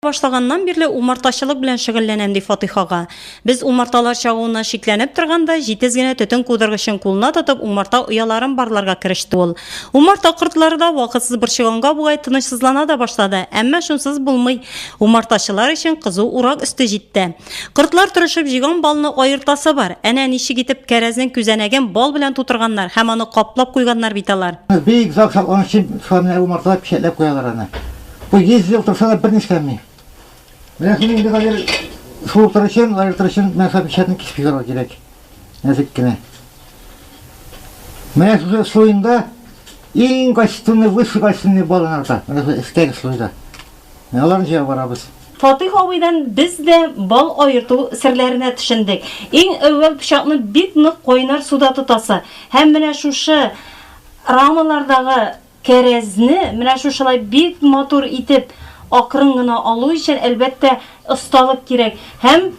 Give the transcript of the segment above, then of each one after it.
башлаганнан бирле умартачылык белән шөгыльләнәм, ди Фатыйх ага. Без умарталар чагуына шикләнеп торганда, җитез генә төтен кудыргычын кулына тотып, умарта ояларын барларга кереште ул. Умарта кортлары да вакытсыз борчыганга бугай тынычсызлана да башлады, әмма шунсыз булмый. Умартачылар өчен кызу урак өсте җитте. Кортлар тырышып җыйган балны аертасы бар. Әнә ничек итеп кәрәзнең күзәнәген бал белән тутырганнар һәм аны каплап куйганнар бит алар. Бик озак саклану өчен шулай менә умарталар печәтләп куялар аны. Бу 100 ел торса да берни эшләми. Менә шуны инде хәзер суыртыр өчен, аертыр өчен менә шул печатьне кисеп чыгарырга кирәк. Нәзек кенә. Менә шушы слоенда иң качественный, высший качественный балын арта. Менә шул өстәге слойда. Менә аларны җыеп барабыз. Фатыйх абыйдан без дә бал аерту серләренә төшендек. Иң әүвәл пычакны бик нык кайнар суда тотасы һәм менә шушы рамалардагы Кәрәзне менә шушылай бик матур итеп акрын гына алу өчен, әлбәттә, осталык кирәк. Һәм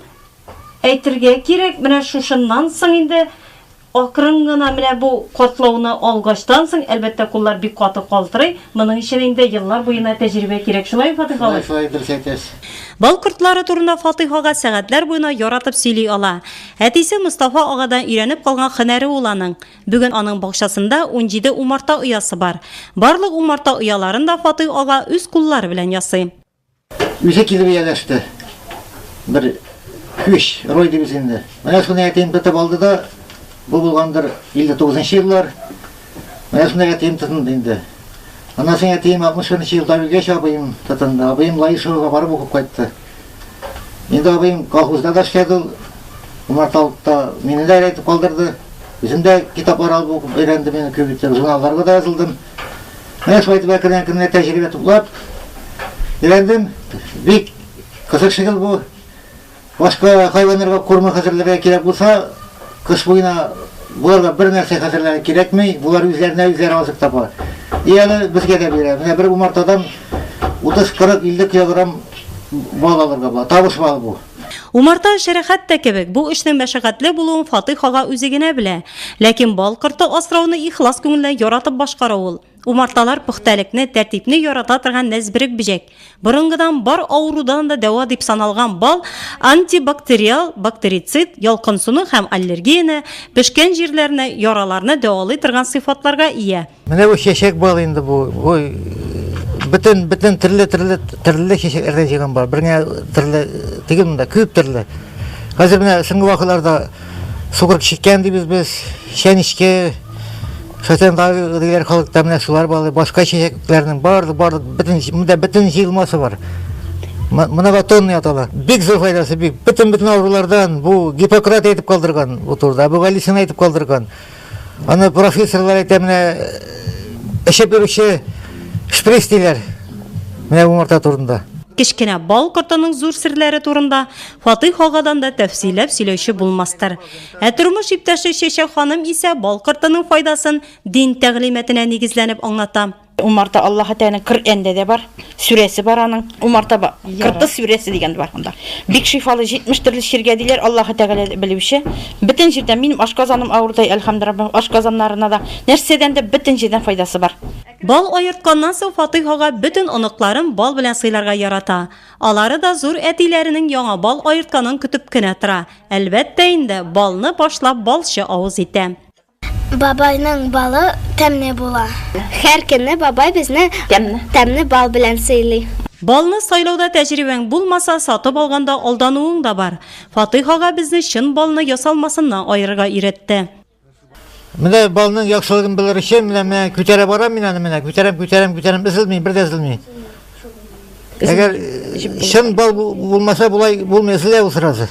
әйтергә кирәк, менә шушыннан соң инде акрын гына менә бу катлауны алгачтан соң, әлбәттә, куллар бик каты калтырый, моның өчен инде еллар буена тәҗрибә кирәк. Шулаймы, Фатыйх абый? Шулай, шулай, дөрес әйтәсез. Бал кортлары турында Фатыйх ага сәгатьләр буена яратып сөйли ала. Әтисе Мостафа агадан өйрәнеп калган һөнәре ул аның. Бүген аның бакчасында унҗиде умарта оясы бар. Барлык умарта ояларын да Фатыйх ага үз куллары белән ясый. Үзе килеп ияләште. Бер көч, роль дибез инде. Менә шуны әтием тотып алды да, бу булгандыр 59 еллар. Менә шуны әтием тотынды инде. Аннан соң әтием 61 елда үлгәч, абыем тотынды. Абыем Лаешовага барып укып кайтты. Инде абыем колхозда да эшләде ул. Умарталыкта мине дә әйтеп калдырды. Үзем дә китаплар алып укып өйрәндем, мин күбитер журналларга да язылдым. Менә шулай итеп әкрен әкрен тәҗрибә туплап өйрәндем. Бик кызык шикел бу. Башка хайваннарга корма хәзерләргә кирәк булса, Кыш буена боларга бер нәрсә хәзерләре кирәкми, болар үзләренә үзләре азык таба. И әле безгә дә бирә. Менә бер умартадан 30-40-50 килограмм бал алырга була. Табыш балы бу. Умарта эше рәхәт тә кебек, бу эшнең мәшәкатьле булуын Фатыйх ага үзе генә белә. Ләкин бал корты асрауны ихлас күңелдән яратып башкара ул. Умарталар пөхтәлекне, тәртипне ярата торган нәзберек бөҗәк. Борынгыдан бар авырудан да дәва дип саналган бал антибактериал, бактерицид, ялкынсыну һәм аллергияне, пешкән җирләрне, яраларны дәвалый торган сыйфатларга ия. Менә бу чәчәк бал инде бу. Бу бөтен бөтен төрле төрле төрле чәчәкләрдән җыйган бал. Бер генә төрле түгел монда, күп төрле. Хәзер менә соңгы вакытларда Сукыр чиккән дибез без, чәнечке, шайтан даğı дигәр халыкта менә шулар балы, башка чәчәкләрнең барлык барлык бөтен монда бөтен җыелмасы бар. Моногатонный атала. Бик зур файдасы бик. Бөтен бөтен авырулардан бу Гиппократ әйтеп калдырган бу турыда, бу Галисин әйтеп калдырган. Аны профессорлар әйтә менә эчеп йөрүче шприц диләр. Менә бу марта турында. Кечкенә бал кортының зур серләре турында Фатыйх агадан да тәфсилләп сөйләүче булмастыр. Ә тормыш иптәше Чәчәк ханым исә бал кортының файдасын дин тәгълиматына нигезләнеп аңлата. Умарта Аллаһы Тәгаләнең Коръәндә дә бар, сүрәсе бар аның. Умарта ба, корты сүрәсе дигән дә бар анда. Бик шифалы, 70 төрле чиргә диләр, Аллаһы Тәгалә белүче. Бөтен җирдән, минем ашказаным авырдай, әлхәмдераббим, ашказаннарына да, нәрсәдән дә бөтен җирдән файдасы бар. Бал аертканнан соң Фатыйх ага бөтен оныкларын бал белән сыйларга ярата. Алары да зур әтиләренең яңа бал аертканын көтеп кенә тора. Әлбәттә инде, балны башлап балчы авыз итә. Бабайның балы тәмне була. Һәр көнне бабай безне тәмне бал белән сыйлый. Балны сайлауда тәҗрибәң булмаса, сатып алганда алдануың да бар. Фатыйх ага безне чын балны ясалмасыннан аерырга өйрәтте. Менә балның яхшылыгын белер өчен менә менә күтәрә барам мин аны менә, күтәрәм, күтәрәм, күтәрәм, изелми, бер дә изелми. Әгәр чын бал булмаса болай булмый, изелә ул сразу.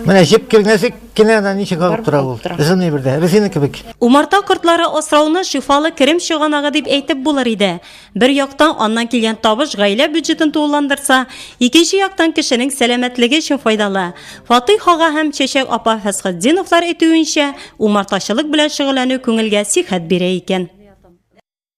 Менә җеп килгәнсек кенә ана ничек агып тора ул. Изелми бер дә, резина кебек. Умарта кортлары асрауны шифалы керем чыганагы дип әйтеп булыр иде. Бер яктан, аннан килгән табыш гаилә бюджетын тулыландырса, икенче яктан, кешенең сәламәтлеге өчен файдалы. Фатыйх ага һәм Чәчәк апа Фәсхетдиновлар әйтүенчә, умартачылык белән шөгыльләнү күңелгә сихәт бирә икән.